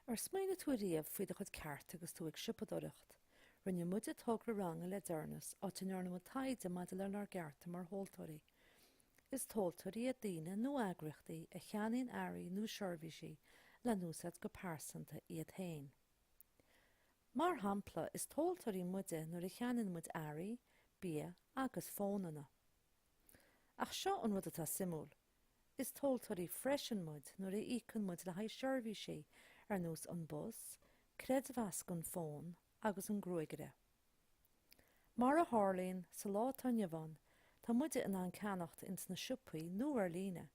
Ar smaoinigh tú riamh faoi do chuid cearta agus tú ag siopadóireacht? Rinne muide togra ranga le deireanas, áit a ndearna muid taighde maidir lenár gcearta mar thomhaltóirí. Is tomhaltóirí iad daoine nó eagraíochtaí a cheannaíonn earraí nó seirbhísí le n-úsáid go pearsanta iad féin. Mar shampla, is tomhaltóirí muide nuair a cheannaíonn muid earraí, bia agus fónanna. Ach seo an rud atá suimiúil. Is tomhaltóirí freisin muid nuair a íocann muid le haghaidh seirbhísí ar nós an bus, creidmheas don fón agus an gruagaire. Mar a tharlaíonn sa lá atá inniu ann, tá muide in ann ceannacht ins na siopaí nó ar líne.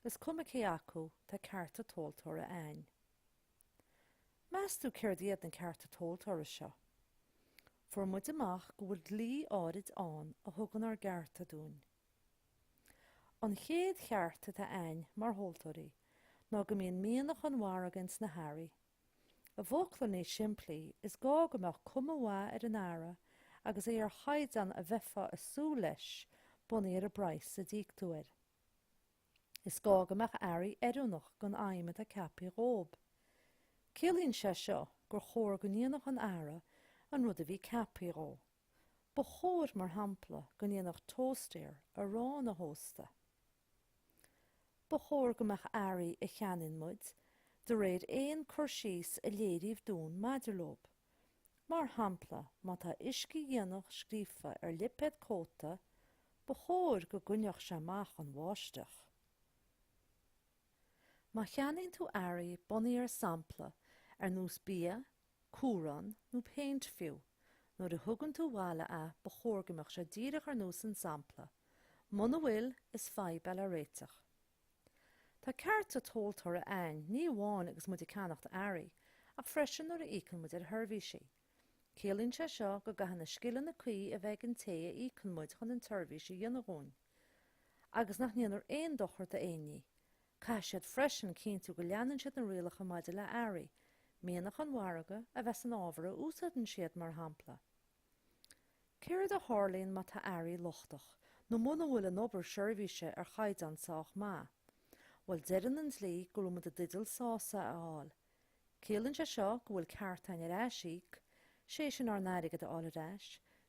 Is cuma cé acu, tá cearta tomhaltóra a'inn. Meas tú céard iad na cearta tomhaltóra seo? Fuair muid amach go bhfuil dlí áirid ann a thugann ár gcearta dúinn. An chéad cheart atá ainn, mar thomhaltóirí, ná go mbíonn mianach an mhargaidh ins na hearraí. I bhfocla níos simplí, is gá go mbeadh cuma mhaith ar an earra agus é ar chaighdeán a bheifeá ag súil leis bunaithe ar an bpraghas a d'íoc tú air. Is gá go mbeadh earraí oiriúnach don fheidhm atá ceapthaí dhóib. Ciallaíonn sé seo gur chóir go ndéanfadh an earra an rud a bhí ceapthaí dhó. Ba chóir, mar shampla, go ndéanfadh tóstaer arán a thóstadh. Ba chóir go mbeadh earraí a cheannaíonn muid de réir aon cur síos a léiríodh dúinn maidir leob. Mar shampla, má tá uiscedhíonach scríofa ar lipéad cóta, ba chóir go gcoinneodh sé amach an bháisteach. Má cheannaíonn tú earraí bunaithe ar sampla ar nós bia, cumhrán nó péint fiú. Nuair a thugann tú abhaile é, ba chóir go mbeadh sé díreach ar nós an sampla. Muna bhfuil, is fadhb é le réiteach. Tá cearta tomhaltóra ainn, ní amháin agus muid ag ceannacht earraí, ach freisin nuair a íocann muid ar sheirbhísí. Ciallaíonn sé seo go gcaithfidh na scileanna cuí a bheith ag an té a íocann muid chun an tseirbhís a dhéanamh dúinn. Agus nach ndéanfar aon dochar d'aon ní. Caithfidh siad freisin cinntiú go leanann siad na rialacha maidir le hearraí, mianach an mhargaidh a bheith san ábhar a úsáideann siad, mar shampla. Céard a tharlaíonn má tá earraí lochtach nó muna bhfuil an obair seirbhíse ar chaighdeán sách maith? Bhuel, deireann an dlí go raibh muid i dteideal sásamh a fháil. Ciallaíonn sé seo go bhfuil ceart ainn ar aisíoc, sé sin ár n-airgead a fháil ar ais,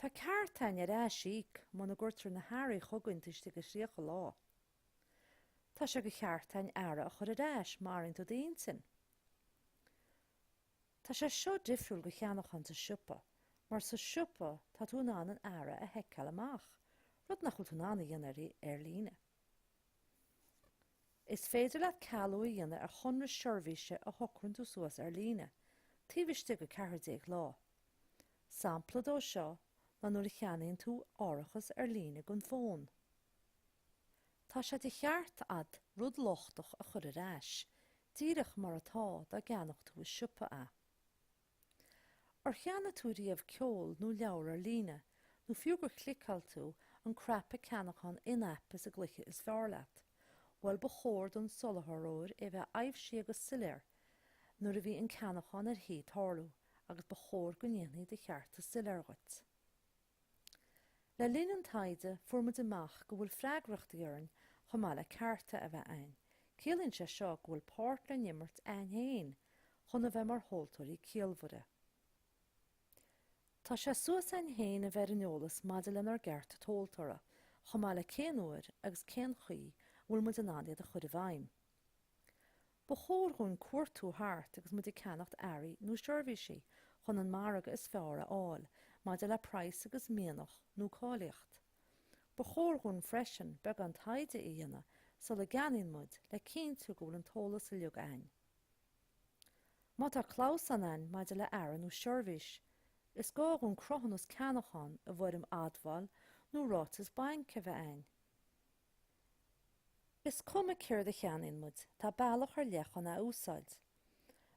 Tá ceart ainn ar aisíoc muna gcuirtear na hearraí chugainn taobh istigh de thríocha lá. Tá sé de cheart ainn earra a chur ar ais má athraíonn tú d'intinn. Tá sé seo difriúil go cheannachán sa siopa mar sa siopa tá tú in ann an earra a sheiceáil amach, rud nach bhfuil tú in ann a dhéanamh dháiríre ar líne. Is féidir leat cealú a dhéanamh ar chonradh seirbhíse a shocraíonn tú suas ar líne, taobh istigh 14 lá. Sampla dó seo ná nuair a cheannaíonn tú árachas ar líne don fón. Tá sé de cheart agat rud lochtach a chur ar ais, díreach mar atá dá gceannódh tú i siopa é. Ar cheannaigh tú riamh ceol nó leabhar ar líne? Nó fiú gur chliceáil tú an cnaipe ceannachán in-app sa gcluiche is fearr leat? Bhuel, ba chóir don soláthraí é a bheith aibhsithe agus soiléir nuair a bhí an ceannachán ar thí tarlú, agus ba chóir go ndéanfaí do chearta soiléir dhuit. Le linn an taighde, fuair muid amach go bhfuil freagrachtaí orainn chomh maith le cearta a bheith againn. Ciallaíonn sé seo go bhfuil páirt le n-imirt againn féin chun a bheith mar thomhaltóirí ciallmhaire. Tá sé suas againn féin a bheith ar an eolas maidir lenár gcearta tomhaltóra, chomh maith le cén uair agus cén chaoi a bhfuil muid in ann iad a chur i bhfeidhm. Ba chóir dhúinn cuartú thart agus muid ag ceannacht earraí nó seirbhísí chun an margadh is fearr a fháil maidir le praghas agus mianach nó cáilíocht. Ba chóir dhúinn freisin beagán taighde a dhéanamh sula gceannaíonn muid le cinntiú go bhfuil an t-eolas uiliug ainn. Má tá clamhsán ainn maidir le earra nó seirbhís, is gá dhúinn cruthúnas ceannachán i bhfoirm admháil nó ráiteas bainc a bheith ainn. Is cuma céard a cheannaíonn muid, tá bealach ar leith chun é a úsáid.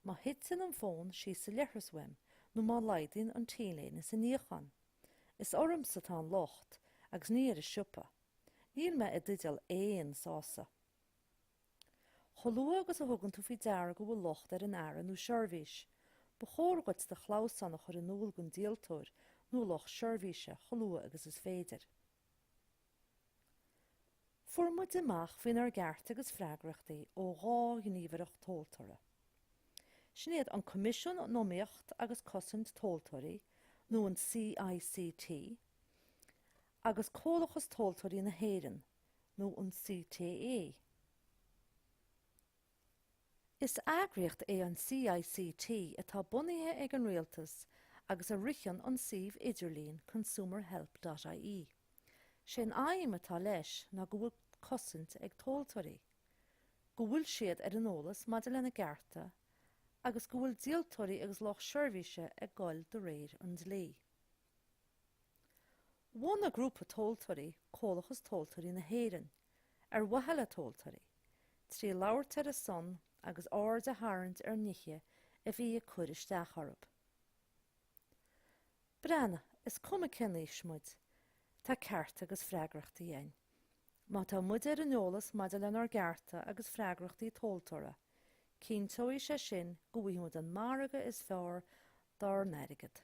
Má thiteann an fón síos sa leithreas uaim nó má laghdaíonn an T-léine sa níochán, is ormsa atá an locht agus ní ar an siopa. Níl mé i dteideal aon sásamh. Chomh luath agus a thugann tú faoi deara go bhfuil locht ar an earra nó seirbhís, ba chóir dhuit do chlamhsán a chur in iúl don díoltóir nó lucht seirbhíse chomh luath agus is féidir. Fuair muid amach faoinár gcearta agus freagrachtaí ó dhá ghníomhaireacht tomhaltóra. Sin iad an Coimisiún um Iomaíocht agus Cosaint Tomhaltóirí, nó an CICT, agus Comhlachas Tomhaltóirí na hÉireann, nó an CTA. Is eagraíocht é an CICT atá bunaithe ag an rialtas agus a ritheann an suíomh idirlín consumerhelp.ie. Sé'n aidhm atá leis ná go bhfuil cosaint ag tomhaltóirí, go bhfuil siad ar an eolas maidir lena gcearta agus go bhfuil díoltóirí agus lucht seirbhíse ag gol de réir an dlí. Bhunaigh grúpa tomhaltóirí Comhlachas Tomhaltóirí na hÉireann ar mhaithe le tomhaltóirí, trí labhairt ar a son agus aird a tharraingt ar nithe a bhí ag cur isteach orthu. Breathnaigh, is cuma cén aois muid, tá cearta agus freagrachtaí againn. Má tá muid ar an eolas maidir lenár gcearta agus freagrachtaí tomhaltóra, cinnteoidh sé sin go bhfaighidh muid an margadh is fearr dár n-airgead.